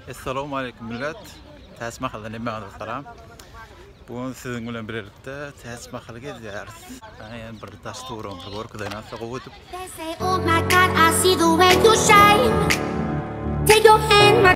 Essalawmaleýkum millet. Täç mahaldan hemmäňize salam. Bu gün siziň bilen birlikde täç mahaly gezýäris. Ana ýene bir daş turum bir görkezen asa gowy edip. Oh my god, I see the way you shine. Take your hand my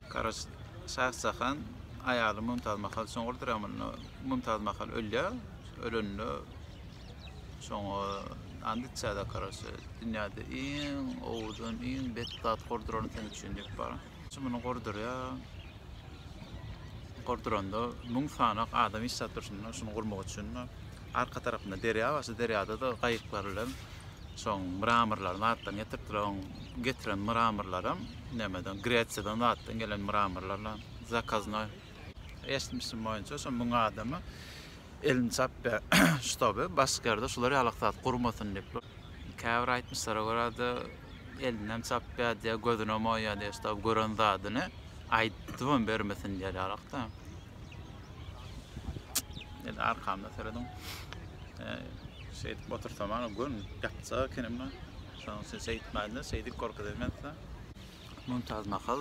Garaş Şahjahan aýaly Mümtaz Mahal çuňňur dramynda Mümtaz Mahal ölýär. Ölende şoňa and içýär-de Garaşa. Dünýäde iň owadan, iň bet zat gurduran sen üçin diýip baran. Şu muny gurdurýar. Gurduranda müň sanak adam iş satyşyna şuny gurmak üçin. Arka tarapynda derýa bar. Şu derýada-da gaýyklar bilen şoň mramorlary zatlaryny getiripdirler. Oň getiren mramorlaram nämeden, Gresiýadan zatdan gelen mramorlarla zakaznoý. Eşitmişim boýunça, şu müň adamy elini çapýar, ştoby başga ýerde şular ýalak zat gurmasyn diýip. Käbir aýtmyşlara görä-de, elinem çapýar diýýär, gözünem oýýar diýýär, ştoby gören zadyny aýdybam bermesin diýýär ýalak-da. Edi arkamda seredin. Şeyt otursam ana gün ýatsa kenimde. Şoň üçin şeýdip maýda, şeýdip gorkuz edmezse. Mümtaz Mahal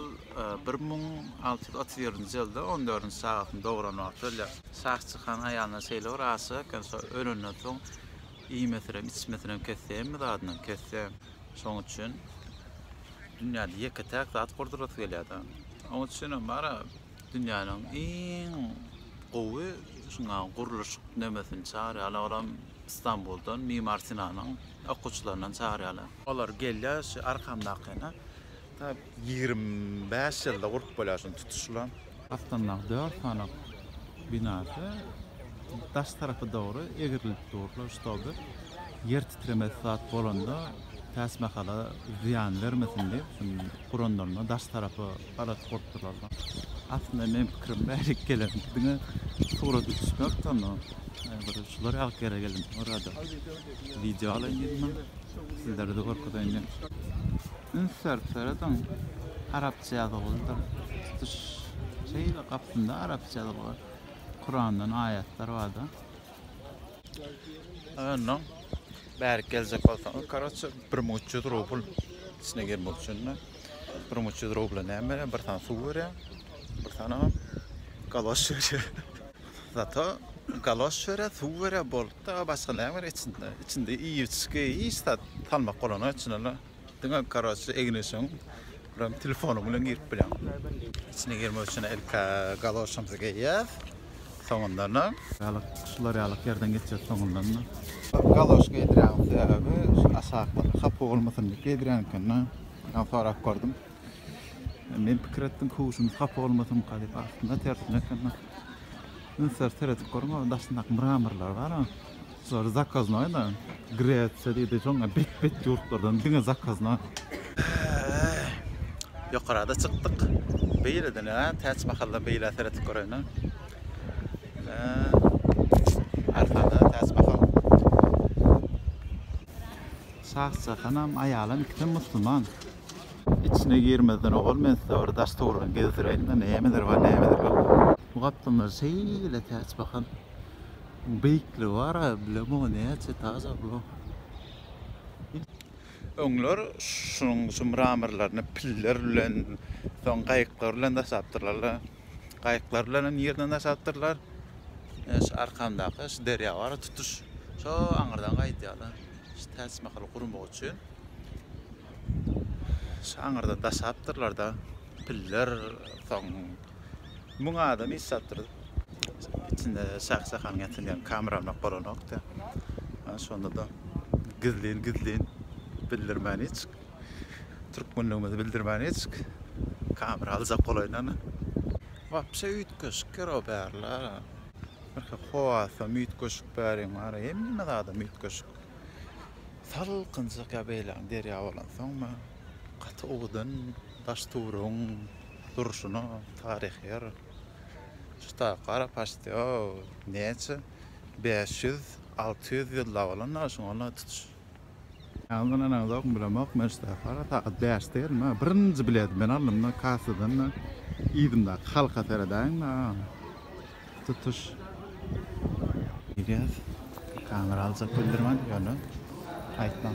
1637-nji ýylda 14-nji sagatyny dogran wagty ölýär. Şah çykan aýalyna şeýle bir aşyk eken, şo ölenden soň iýmesinem, içmesinem kesdi, hemme zadyndan kesdi. Şoň üçin dünýäde ýeke-täk zat gurdurasy gelýär-de. Oň üçinem bara dünýäniň iň gowy şuňa gurluşyk nemesini çagyrýarlar. Olam Istanbuldan Mimar Sinanyň okuwçylaryndan çagyrýarlar. Olar gelýär şu arkamdakyna. Ta ýigrimi bäş ýylda gurup bolýar şuny tutuşylan. Astyndaky dört sany binasy daş tarapy dogry egrilip durlar, ştoby ýer titremesi zat bolanda täsmahana zyýan bermesin diýip, şuny guranlarynda daş tarapy garaz bolupdyrlar-da. Aslynda meň pikirim bärik gelen diňe suraty düşmek sonda bir şular ýaly ýere geldim orada wideo alaýyn diýdim sizlere-de görkezeýin diýdim. Üns berip seredin arapça ýazylgydyr tutuş şeýle gapysynda arapça ýazylgy kurandan aýatlar barda. Ondan bärik geljek bolsaňyz koroçe bir müň üç ýüz rubl içine girmek üçin-de. Bunuň 300 rubla näme berýär? Bir sany suw berýär. Bir sany galoş berýär. Zato galoş berýär, suw berýär, bolupdy. A başga näme berýär içinde? Içinde iýip-içgi hiç zat salmak bolany üçin ol diňe karoçe egin-eşigiň bilen telefonyň bilen girip bilýär. Içine girmek üçin ilk galoşymyzy geýýär. soňundanam. Ýalyk şular ýalyk ýerden geçýär soňundanam. Galoş geýdirýäniň sebäbi şu aşaklyk hapa bolmasyn diýip geýdirýän ekeni. Ýa sorap gördüm. Men pikir etdim köwşümiz hapa bolmasynka diýip aslynda tersine ekeni. Üns berip seredip görüň o daşyndaky mramorlar bar. Şulary zakaznaý da Gresiýa diýdi soň bet bet ýurtlardan diňe zakaznaý. Ýokarada çykdyk. Beýleden a täç mahaldan beýlä seretip göräýnä. Ina. Arkada täç mahal. Şah jahanam aýalam ikisem musluman. Içine girmezden owal men size bir daş towlugyny gezdiräýin-de nämeler bar nämeler ýok. Bu gapdallar şeýle täç mahal. Beýikli bar a bilemok näçe taş ablam. Öňler şunuň şu mramorlaryny piller bilen soň gaýyklar bilen daşapdyrlar la. Gaýyklar bilen hem ýerden daşapdyrlar. Ine şu arkamdaky şu derýa bar a tutuş şo aňyrdan gaýdýarlar. Şu Täçmahal gurmak üçin şu aňyrdan daşapdyrlar da. Piller soň müň adam iş çapdyryp, içinde şah-şahan getirýän kameramak bolanokdy. Şonda-da gizlin-gizlin bildirmän hiç, türkmenligimizi bildirmän hiç kamera aljak bolaýynany. Wapşe üýtgeşikdir o bärler. Birki howasam üýtgeşik bäriň bary, hemme zadam üýtgeşik. Salkynjak ýa beýläň derýa bolansoňmy. Gaty owadan daş-tuwrugyň durşuna, taryhy ýer. Şuta gara paçti o näçe bäş ýüz, alty ýüz ýyllap bolanda şuňa ýaly tutuş. Ýaňy ynanaňzok bilemok men şuta gara sagat bäşde geldim ha birinji bileti men aldym da kassadan da yzymdaky halka seredäýiň da. tutuş Gidýäs. Kamera aljak bildirmän ýöne aýtmaň.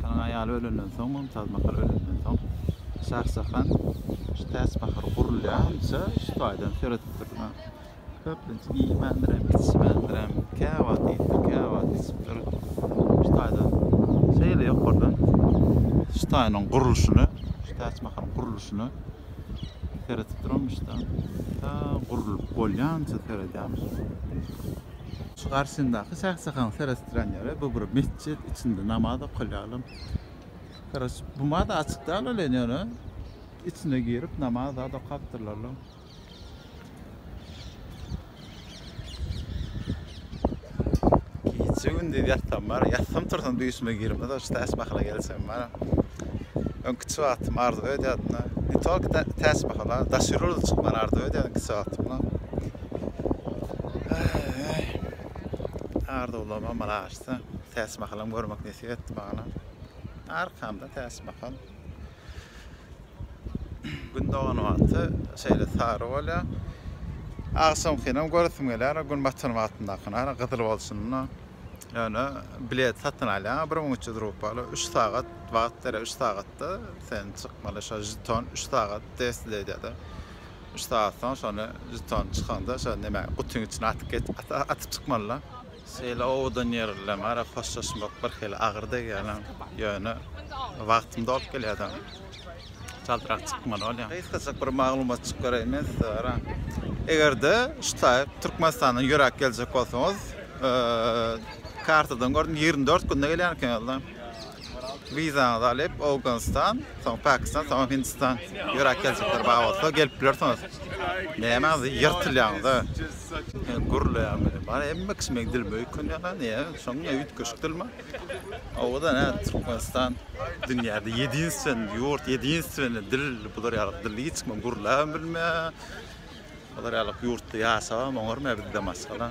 Şanyň aýaly ölenden soň, Mümtaz Mahal ölenden soň, Şahjahan şu täçpahar gurulýança şu taýdan seredipdir. Köplenç iýmändirem, içmändirem, käwagt iýipdir, käwagt içipdir. Şu taýdan şeýle ýokardan şu taýynyň gurluşyny, şu täçmakaryň gurluşyny seredip duramyş da. Ta gurlup bolýança seredýämiş. Şu garşyndaky çaksakaň seretdiren ýeri bu bir metjit, içinde namaz okalýalam. Garaş, buma-da açyk däl welin ýöne içine girip namaz zat okapdyrlar. Gije gündiz ýatsam bar, ýatsam tursam düýşüme girmez o täç mahala gelsem bar. Öňki kiçi wagtym arzuw edýärdim da. Ne tolko tä- täç mahala, daş ýüre uly çykmany arzuw edýärdim kiçi wagtymda. Äý. Arzuwlarym amala aşsa, täç mahalam görmek nesip etdi maňa. Arkamda täç mahal. Gün dogan wagty şeýle sary bolýar. Agşamkynam göresim gelýär, gün batan wagtyndakyny, hany gyzyl bolşunda. Ýöne bilet satyn alýaň, bir müň üç ýüz rupiýaly, üç sagat wagt berýär, üç sagatda sen çykmaly, şo žeton üç sagat desli edýär-de. Üç sagat soň şony žetony çykanda, şo nemäňi, gutyň içine atyp atyp çykmaly-da. Şeýle owadan ýer bilen ara hoşlaşmak birhili agyr degýärem, ýöne wagtym dolup gelýärdi. Çaltrak çykmaly bolýar. Gysgajyk bir maglumatjyk bereýin men size garaň. Eger-de şu taý Türkmenistandan ýöräp geljek bolsaňyz, kartadan gördüm ýigrimi dört günde gelýän ekenizda. Wizaňyzy alyp Owganystan, soň Pakistan, soň Hindistan ýöräp geljekler bar bolsa gelip bilersiňiz. Nämäňiz ýyrtylýaňyz-a? Gürleýän biri bar. Hemme kişi meň dilime öýkünýär-ä. Näme şoň ne üýtgeşik dilmi? Owadan hä Türkmenistan dünýäde ýedinstweniý ýurt, ýedinstweniý dil bular ýaly dil hiç kim gürläbem bilmeýär. Bular ýaly ýurtda ýaşabam oňarmaýar bizden başga-da.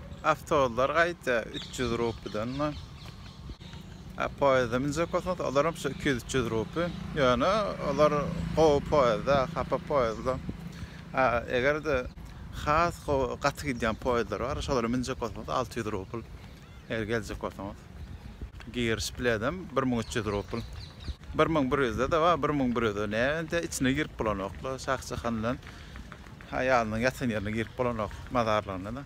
Awtobuslar gaýta 300 rupiýadan bar. A poýezde minjek bolsaňyz, olar hem şu 200-300 rupiýa. Ýöne olar gowy poýezda, hapa poýezda. A eger-de has gowy, gaty gidýän poýezler bar, şolara minjek bolsaňyz 600 rupiýa. Eger geljek bolsaňyz. Giriş biledem 1300 rupiýa. 1100-de-de bar, 1100-de näme-de içine girip bolanok-la, Şahjahan bilen Aýalynyň ýatan ýerine girip bolanok, mazarlygyna-da.